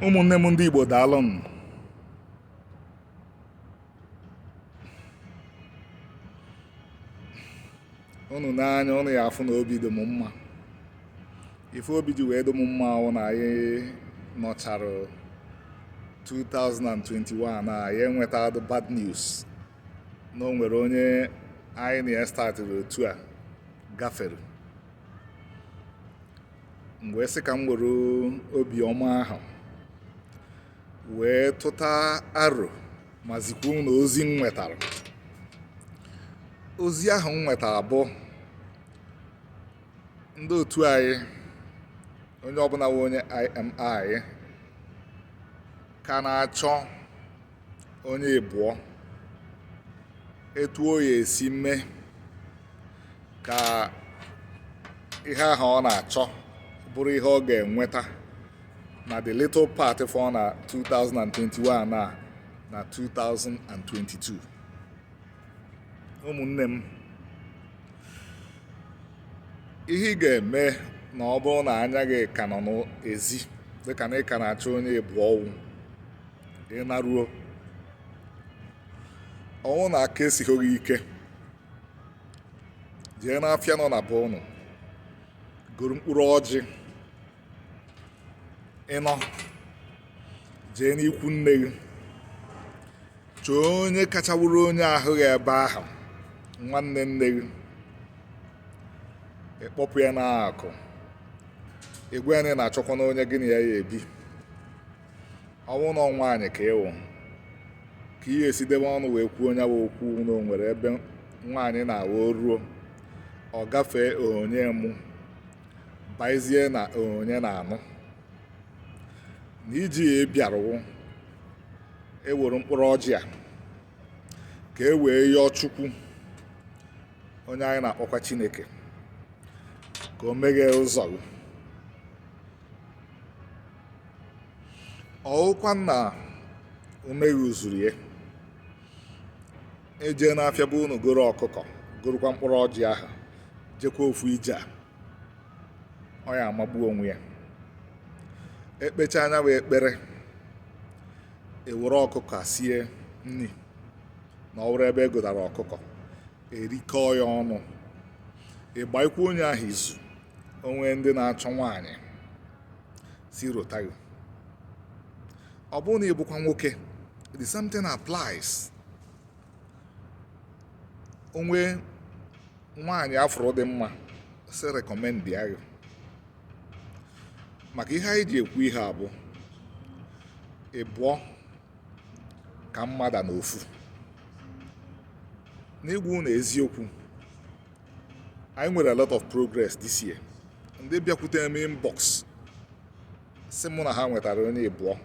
ụmụnne m ndị Igbo daalụ nụ ụnụ nee anya ụnụ ya afụ na obi dị m mma ife obi ji wee dị m mma wụ na anyị nọchara 2021 na anyị enwetadịghị bad news na o nwere onye anyị na ya statịrị otu a gafere m wee sị ka m were obiọma ahụ wee tụta aro ma zikwuo ụnụ ozi m nwetara ozi ahụ m nwetara bụ ndị otu anyị onye ọbụla wụ onye ị ma ị ka na-achọ onye ịbụọ etu o ya esi mee ka ihe ahụ ọ na-achọ bụrụ ihe ọ ga-enweta na the little part fọ na 2021 na na 2022 ụmụnne m ihe ị ga-eme na ọ bụrụ na anya gị ka nọ n'ezi dịka na ị ka na-achọ onye ịbụọ ọ wụ ị naruo ọ wụ na aka esighị gị ike jee n'afịa nọ na be ụnụ goro mkpụrụ ọjị ịnọ jee n'ikwu nne gị chọọ onye kacha wụrụ onye ahụ gị ebe ahụ nwanne nne gị ị kpọpụ ya n'akụ ị gwa ya na ị na-achọkwanụ onye gị na ya ya ebi ọ wụ na ọ nwaanyị ka ị wụ ka ihe esi debe ọnụ wee kwuo nya bụ okwu na o nwere ebe nwaanyị na-awụ ruo ọ gafee onye mụ baizie na onye na-anụ na iji ya bịarụ wụ e were mkpụrụ ọjị a ka e wee yọọ chukwu onye anyị na-akpọkwa chineke ka o meghee ụzọ gị ọwụkwa na ume gị zuru ya ejee n'afịa be unu goro ọkụkọ gorokwa mkpụrụ ọjị ahụ jekwa ofu ije a ọ ya amagbu onwe ya ekpechaa nya bụ ekpere ewere ọkụkọ a sie nri na ọ bụrụ ebe e gotara ọkụkọ erikọọ ya ọnụ ị gbaikwa onye ahụ izu o nwee ndị na-achọ nwaanyị si rota gị ọ bụrụ na ị bụkwa nwoke the same thing applies o nwee nwaanyị a fụrụ dị mma si recommend ya gị maka ihe anyị ji ekwu ihe a bụ ịbụọ ka mma ada anọ ofu n'ịgwa ụnụ eziokwu anyị nwere a lot of progress this year ndị bịakwute m inbox sị mụ na ha nwetara onye ịbụọ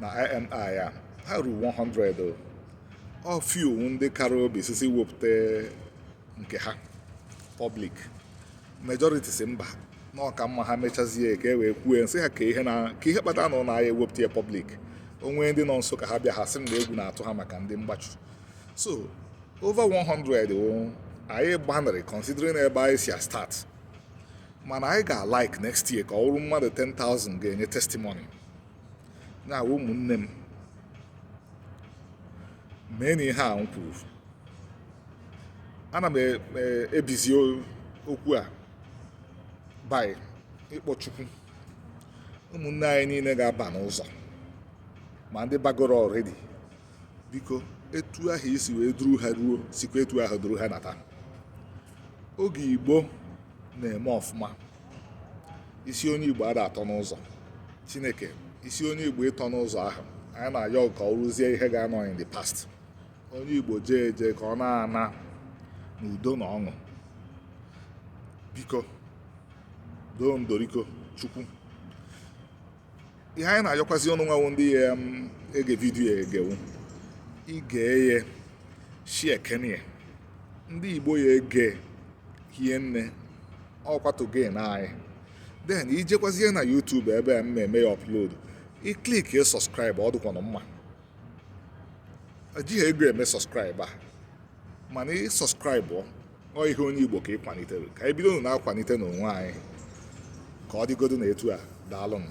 na IMI a ha ruru 100 o. ọ few ndị kara obi sisi wepụta nke ha public majority sị mba na ọ ka mma ha mechazie ka e wee kwue m sị ha ka ihe kpatara na ụnụ aya ewepụta ya public o nwee ndị nọ nso ka ha bịa ha sị m na egwu na-atụ ha maka ndị mgbachu so over 100 o anyị gbanịrị considering ebe anyị si start mana anyị ga-alike next year ka ọ bụrụ mmadụ 10,000 ga-enye testimony ngwa ụmụnne m meenụ ihe a m kwuru ana m e, e, ebizi okwu a by ịkpọ chukwu ụmụnne anyị niile ga-aba n'ụzọ ma ndị bagoro already biko etu ahụ i si wee duru ha ruo sikwa etu ahụ duru ha nata oge igbo na-eme ọfụma isi onye igbo ada atọ n'ụzọ chineke isi onye igbo ịtọ n'ụzọ ahụ anyị na-ayọ ka ọ bụrụzie ihe ga-anọ in the past onye igbo jee eje ka ọ na-ana n'udo na ọṅụ biko doo ndoriko chukwu ihe anyị na-ayọkwazi ụnụ nwa wụ ndị ya um, ege vidiyo a ege wụ i gee ya si kenye ya ndị igbo ya ege hie nne ọkwatu gen anyị then i jekwazie na YouTube ebe a m na-eme ya upload i click ya subscribe ọ dịkwanụ mma ejighị ego eme subscribe a mana ị subscribe ọ ihe onye Igbo ka ị kwanitere ka anyị bido na-akwanite n'onwe anyị ka ọ dịgodo na etu a daalụnụ